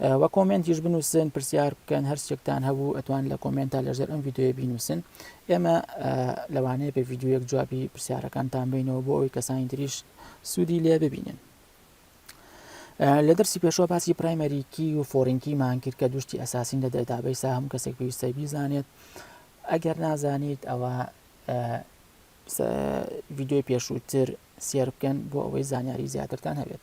و کۆمنتیش بنووسن پرسیار بکەن هەر شتێکتان هەبوو ئەتوان لە کۆمنتا لەژێر ئەم یددیوە بینوسن ئێمە لەوانەیە بە یددیوەک جوابی پرسیارەکانتان بینەوە بۆ ئەوی کەسانی تریش سوودی لێ ببینن. لە دەرسی پێشەوە باسی پرایمەریکی و فۆرینکی مانکرد کە دوشتی ئەساسین لە دەدابەی سا هەموو کەسێک پێویستە بیزانێت ئەگەر نازانیت ئەوە ویددیوی پێشووتر سێر بکەن بۆ ئەوەی زانیاری زیاترتان هەبێت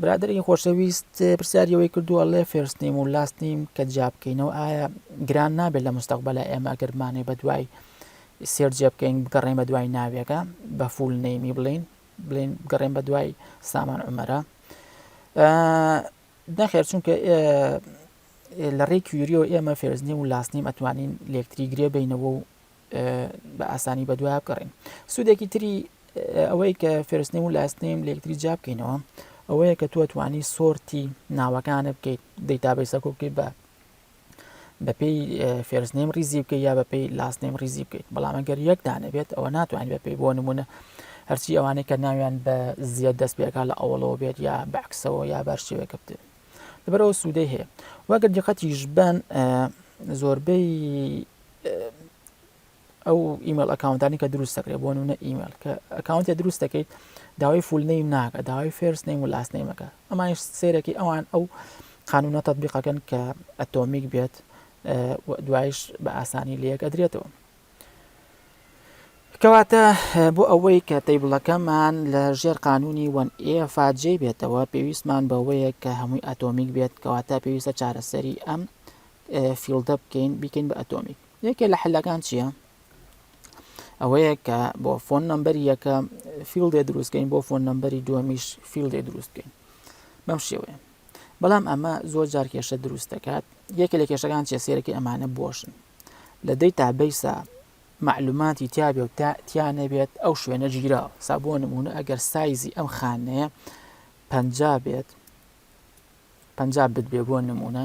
برادری خۆشەویست پرسیاری ئەوەی کردو ئەڵێ فێرست نیم و لاست نیم کە جیا بکەینەوە ئایا گران نابێت لە مستەقبلە ئێمە گەرمانێ بە دوای سێر جێ بکەین بگەڕێن بە دوای ناوێکە بە فول نەیمی بڵین بڵین گەڕێن بە دوای سامان عمەرە نەخێر چونکە لە ڕێی کوریەوە ئێمە فێرزنی و لاسنیم ئەتوانین لەکتری گرێ بینەوە و بە ئاسانی بەدوایە بگەڕێن سوودێکی تری ئەوەی کە فێرستنیم و لاستنیم لە یەکتری جیا بکەینەوە ئەوەیە کە توە توانی سۆرتی ناوەکانە بکەیت دەیتابی سەکۆ بکەیت بە بەپی فێرزنیم ریزی بکە یا بەپی لاستنیم ریزی بکەیت بەڵام ئەگەر یەکدانە بێت ئەوە ناتوانین بەپی بۆ نمونە هەرچی ئەوانەی کە ناویان بە زیاد دەست پێکا لە ئەوڵەوە بێت یا بەعکسەوە یا بەر شێوەکە بێت لەبەرەوە سوودەی هەیە واگە دیقەتیش بن زۆربەی ئەو ئیمەل ئەکاونتانی کە دروست دەکرێت بۆ نمونە ئیمەل کە ئەکاونتێ دروست دەکەیت داوای فول نیم ناکە داوای فێرس نیم و لاست نیمەکە ئەمانش سێرەکی ئەوان ئەو قانونە تطببیقەکەن کە ئەتۆمیک بێت دوایش بە ئاسانی لەکە درێتەوە کەواتە بۆ ئەوەی کە تەیبڵەکەمان لە ژێر قانونی وەن ئێفاجێ بێتەوە پێویستمان بەوەیە کە هەمووی ئەتۆمیک بێت کەواتە پێویستە چارەسەری ئەم فیڵدە بکەین بیکەین بە ئەتۆمی یەکێ لە حلەکان چییە؟ ئەوەیە کە بۆ فۆن نمبەری یەکە فیلدێ دروستکەین بۆ فۆن نمبەری دووەمیش فیلدێ دروستکەین بەم شێوەیە بەڵام ئەمە زۆر جار کێشە دروست دەکات یەکێ لە کێشەکان چێ سێرەکە ئەمانە بۆشن لە دەی تابیسا معلوماتی تیاابێ و تا تیا نەبێت ئەو شوێنە ژیرا سابۆ نمونە ئەگەر سایزی ئەم خانەیە پ بێت پ بت بێ بۆ نمونە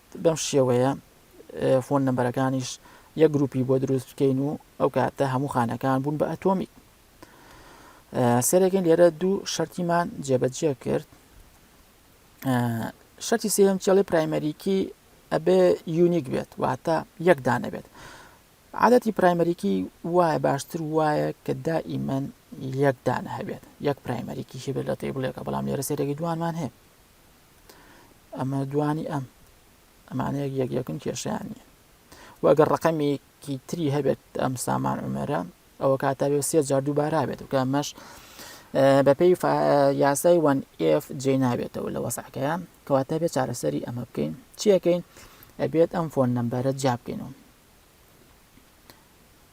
بەم شێوەیە فۆن نمبەرەکانیش یەک گروپی بۆ دروست بکەین و ئەو کاتە هەموو خانەکان بوون بە ئەتۆمی سەرەکەین لێرە دوو شەرتیمان جێبەجێ کرد شەرتی سێم چێڵی پرایمەریکی ئەبێ یونیک بێت واتە یەک دانەبێت عادەتی پرایمەریکی وایە باشتر وایە کە دائیمەن یەکدان هەبێت یەک پرایمەریکی هەبێت لە تێ بڵێکە بەڵام لێرە سێرەێکی دوانمان هەیە ئەمە دوانی ئەم ئەمانەیەک یەک یەکن کێشیان نیە وەگەر ڕقەمێکی تری هەبێت ئەم سامان عمەرە ئەوە کاتە بێ سێ جار دووبارا بێت و کامەش بەپێی یاسای وان ئف جێ نابێتەوە لە وەسعەکەیە کەواتە بێت چارەسەری ئەمە بکەین چیەکەین ئەبێت ئەم فۆن نمبەرە جابکەینەوە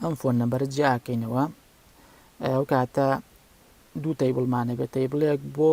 ئەم فۆن نمبەرە جیاکەینەوە ئەو کاتە دوو تەیبڵمانە بێت تەیبڵێک بۆ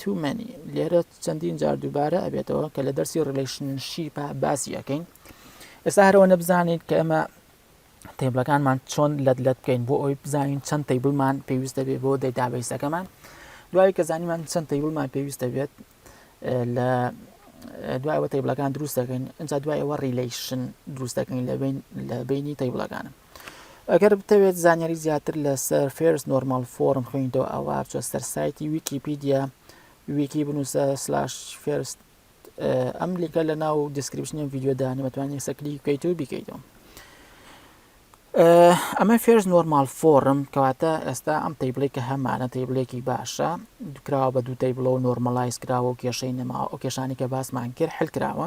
Too many لێرە چەندین جار دووبارە ئەبێتەوە کە لە دەرسی ڕیلیشنشیپە باسی ئەەکەین ئێستا هەرەوە نەبزانیت کە ئێمە تێبلەکانمان چۆن لەت لەت بکەین بۆ ئەوی بزانین چەند تەیبلمان پێویستە بێ بۆ دەیدابیسەکەمان دوای کە زانیمان چەند تەیبلمان پێویستە بێت لە دوایەوە تەیبلەکان دروست دەکەین ئەجا دوایەوە ریلیشن دروست دەکەین لە بین لە بینی تەیبلەکانم ئەگەر بتەوێت زانیاری زیاتر لەسەر فێرس نۆرمال فۆرم خوێنیتەوە ئەوە بچۆ سەر سایتی ویکیپیدیا ویکی بنووسە سلاش فێرست ئەم لیکە لە ناو دیسکرپشنی ڤیددیودانی بەتوانانی سەکلی بکەیت و بیکەیتەوە ئەمە فێرز نۆرمال فۆرم کەواتە ئێستا ئەم تەیبلێک کە هەمانە تەیبلێکی باشە دکراوە بە دوو تەیبلەوە نۆرمەلایز کراوە و کێشەی نەماوە ئەو کێشانی کە باسمان کرد حل کراوە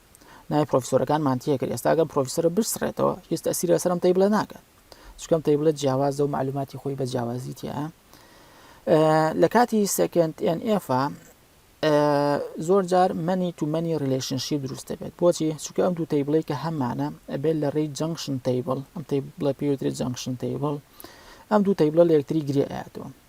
نای پرۆفیسۆرەکان مانتیە کرد ئێستا گەم پرۆفیسەرە بسڕێتەوە هیچ تەسیر لەسەرم تی بڵێ ناکات چکەم تی بڵێت جیاوازە و معلوماتی خۆی بە جیاوازی تیا لە کاتی سکند NF زۆر جار منی تومەنی ریلشنشی دروست دەبێت بۆچی چکە ئەم دوو تی بڵێ کە هەمانە ئەبێت لە ڕێی جەنگشن تیبل ئەم تی بڵێ پێوتری جەنگشن تیبل ئەم دوو تی بڵە لە یەکتری گرێ ئەاتەوە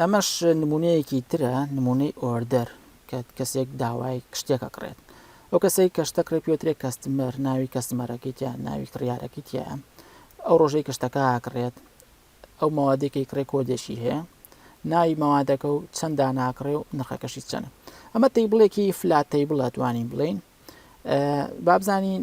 ئەمەش نمونەیەکی ترە نمونەی ئۆردەر کە کەسێک داوای شتێک ئەکڕێت ئەو کەسەی کەشتە کڕێ پێترێ کەستمەر ناوی کەسمەرەکەی تیا ناوی کڕیارەکەی تیا ئەو ڕۆژەی کەشتەکە ئاکڕێت ئەو ماوادێکی کڕێ کۆدێکی هەیە ناوی ماوادەکە و چەندا ناکڕێ و نرخەکەشی چەنە ئەمە تەیبڵێکی فلاتەی بڵە توانین بڵین بابزانین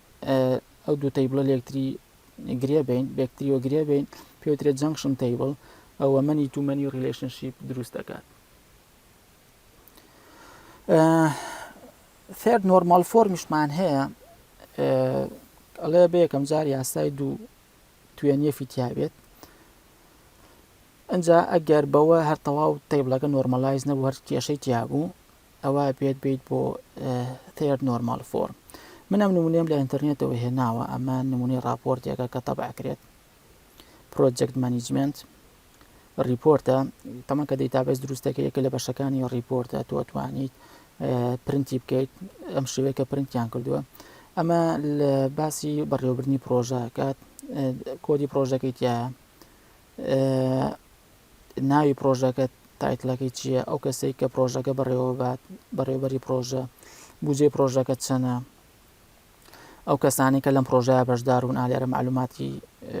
ئەو دوو تەیبڵە لە یەکتری گرێ بین بە یەکتریەوە گرێ بین پێوترێت جەنگشن تەیبڵ ئەوە منی تو منی ڕیلشنشیپ دروست دەکات فێر نۆرمال فۆرمیشمان هەیە ئەڵێ بەیەکەم جار یاسای دوو توێنیە فیتیابێت ئەجا ئەگەر بەوە هەر تەواو تەیبلەکە نۆرمەلایز نەبوو هەر کێشەی تیابوو ئەوا بێت بیت بۆ Third Normal Form من ئەم نمونەیەم لە ئینتەرنێتەوە هێناوە ئەمە نمونەی ڕاپۆرتێکە کە تەبع کرێت پرۆجەکت مانیجمنت ڕیپۆرتە تەمە کە دەیتابێز دروستەکە یەکە لە بەشەکانی ڕیپۆرتە تۆ توانیت پرنتی بکەیت ئەم شوێکە پرنتیان کردووە ئەمە لە باسی بەڕێوەبرنی پرۆژەکات کۆدی پرۆژەکەی تایە ناوی پرۆژەکە تایتلەکەی چییە ئەو کەسێک کە پرۆژەکە بەڕێوەبات بەڕێوبەری پرۆژە بجێ پرۆژەکە چەنە ئەو کەسانی کە لەم پرۆژەیە بەشدارون ئالێرە معلوماتی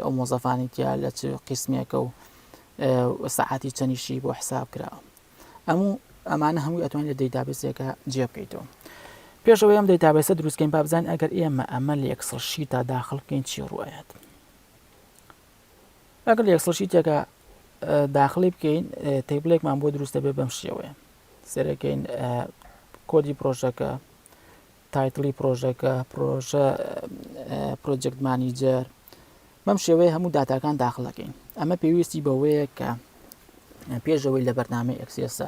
ئەو مۆزەفانی تیا لە چ قسمێکە و سەعاتی چەنیشی بۆ حساب کرا ئەموو ئەمانە هەمووی ئەتوانین لە دەیتابسێکە جێ بکەیتەوە پێشەوە ئەم دەیتابسە دروستکەین بابزان ئەگەر ئێمە ئەمە لە یەکسڵ شیتا داخڵ بکەین چی ڕایەت لەگەڵ یەک سڵ شیتێکە داخلی بکەین تیبلێکمان بۆ دروستە بێ بەم شێوەیە سەرەکەین کۆدی پرۆژەکە تایتڵی پرۆژەکە پرۆژە پرۆجەکت مانیجەر بەم شێوەیە هەموو داتاکان داخلەکەین ئەمە پێویستی بەوەیە کە پێشەوەی لە بەرنامەی ئەکسێسە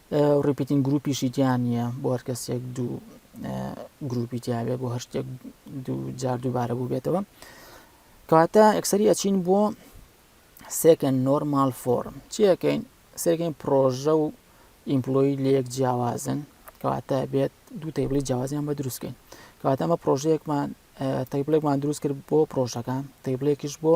ڕیپیتین گروپیشی تیا نییە بۆ هەر کەسێک دوو گروپی تیاابێ بۆ هەر شتێک دوو جار دووبارە بوو بێتەوە کەواتە ئەکسری ئەچین بۆ سێکەن نۆرمال فۆرم چیەکەین سێکەین پرۆژە و ئیمپلۆی لەیەک جیاوازن کەواتە بێت دوو تەیبلی جیاوازیان بە دروستکەین کەواتە ئەمە پرۆژەیەکمان تەیبلێکمان دروست کرد بۆ پرۆژەکان تەیبلێکیش بۆ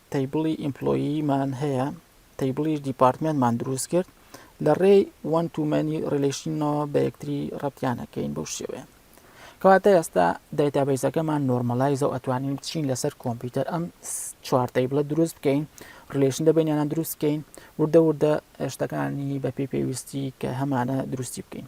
تەیبڵی ئیمپلۆیی مان هەیە تەیبڵیش دیپارتمێنتمان دروست کرد لە ڕێی وەن تو مەنی ڕیلیشنەوە بە یەکتری ڕەتیانەکەین بەو شێوەیە کەواتە ئێستا دایتابیزەکەمان نۆرمەلایزە و ئەتوانین بچین لەسەر کۆمپیوتەر ئەم چوارتەی بڵە دروست بکەین ڕلێشن دەبێنیانە دروستکەین وردە وردە شتەکانی بەپی پێویستی کە هەمانە دروستی بکەین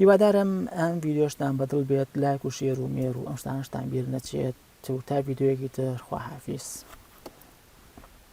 هیوادارم ئەم ڤیدیۆشتان بەدڵ بێت لایک و شێر و مێر و ئەم شتانەشتان بیر نەچێت و تا ڤیدیۆیەکی تر خواحافیز.